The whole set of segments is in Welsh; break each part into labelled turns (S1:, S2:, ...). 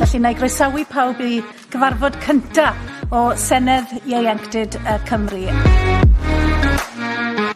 S1: Felly, na i groesawu pawb i gyfarfod cynta o Senedd Ieuenctid yy Cymru.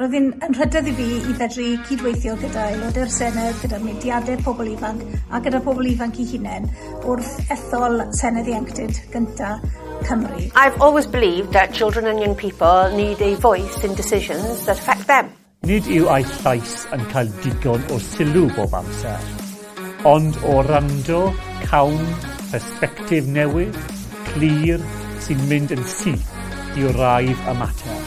S1: Roedd hyn yn rhyddid i fi i fedru cydweithio gyda Aelodau'r Senedd, gyda mudiadau pobl ifanc a gyda phobl ifanc i hunain wrth ethol Senedd Ieuenctid gynta Cymru. I've always believed
S2: that children and young people need a voice in decisions that affect them. Nid yw eich
S3: llais yn cael digon o sylw bob amser. Ond o wrando, cawn persbectif newydd, clir, sy'n mynd yn syth i wraidd y mater.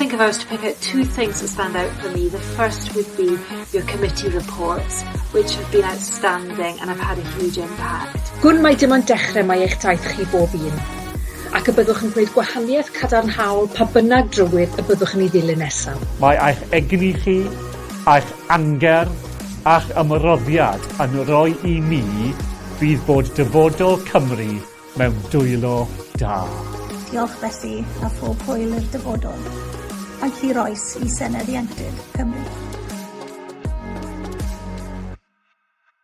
S3: Think if I was to pick
S4: out two things that stand out for me, the first would be your committee reports, which have been outstanding and have had a huge impact. Gwn mai dim ond dechrau
S5: mae eich daith chi bob un, ac y byddwch yn gwneud gwahaniaeth cadarnhaol pa bynnag drywydd y byddwch yn ei ddilyn nesaf. Mae eich egni
S3: chi, A'ch angerdd a'ch ymroddiad yn roi i mi fydd bod dyfodol Cymru mewn dwylo da. Diolch felly
S1: a phob hwyl i'r dyfodol, ac hir oes i Senedd Ieuenctid Cymru.